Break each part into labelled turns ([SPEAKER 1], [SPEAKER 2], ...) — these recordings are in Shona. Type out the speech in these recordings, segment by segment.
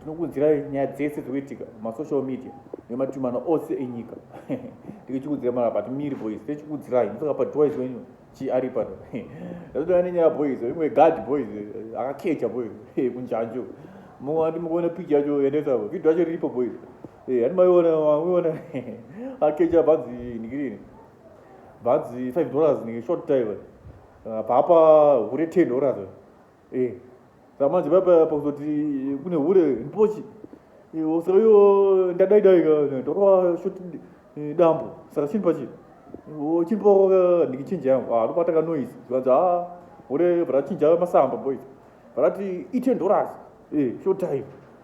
[SPEAKER 1] tinokuudzirai nyaya dzese dzikuitika masocial media nematumano ose enyika tikichikuudzira mara but miri boys tichikuudzirai musaka padwise wenyu chi ari pano ndatodaa nenyaya boys imwe gad boys akakecha boys kunjanjo mumwe andi mukuona pichi yacho yendesa vhidho yacho riripo boys handi maiona maiona akecha bhanzi nikirini bhanzi five dollars nike short time papa hure ten dollars Eh, saka manje paipa pakuzoti kune hure ndipochi osaka iyo ndadaidai torova shoti eh, dambo saka chini pachi chini pawaka ndikichinja yangu ah, ndopata kanoise zvikanzi a ah, hure varachinja masamba boys varati itendoras eh, short time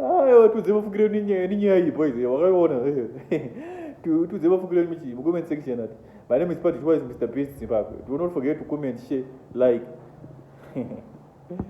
[SPEAKER 1] Ayo tudze mafukiro edu nyaya ninyaya iyi boys eh, wakaiona eh. tudze mafukiro edu muchi mu comment section ati my name is Patrick Wise Mr Beast Zimbabwe do not forget to comment share like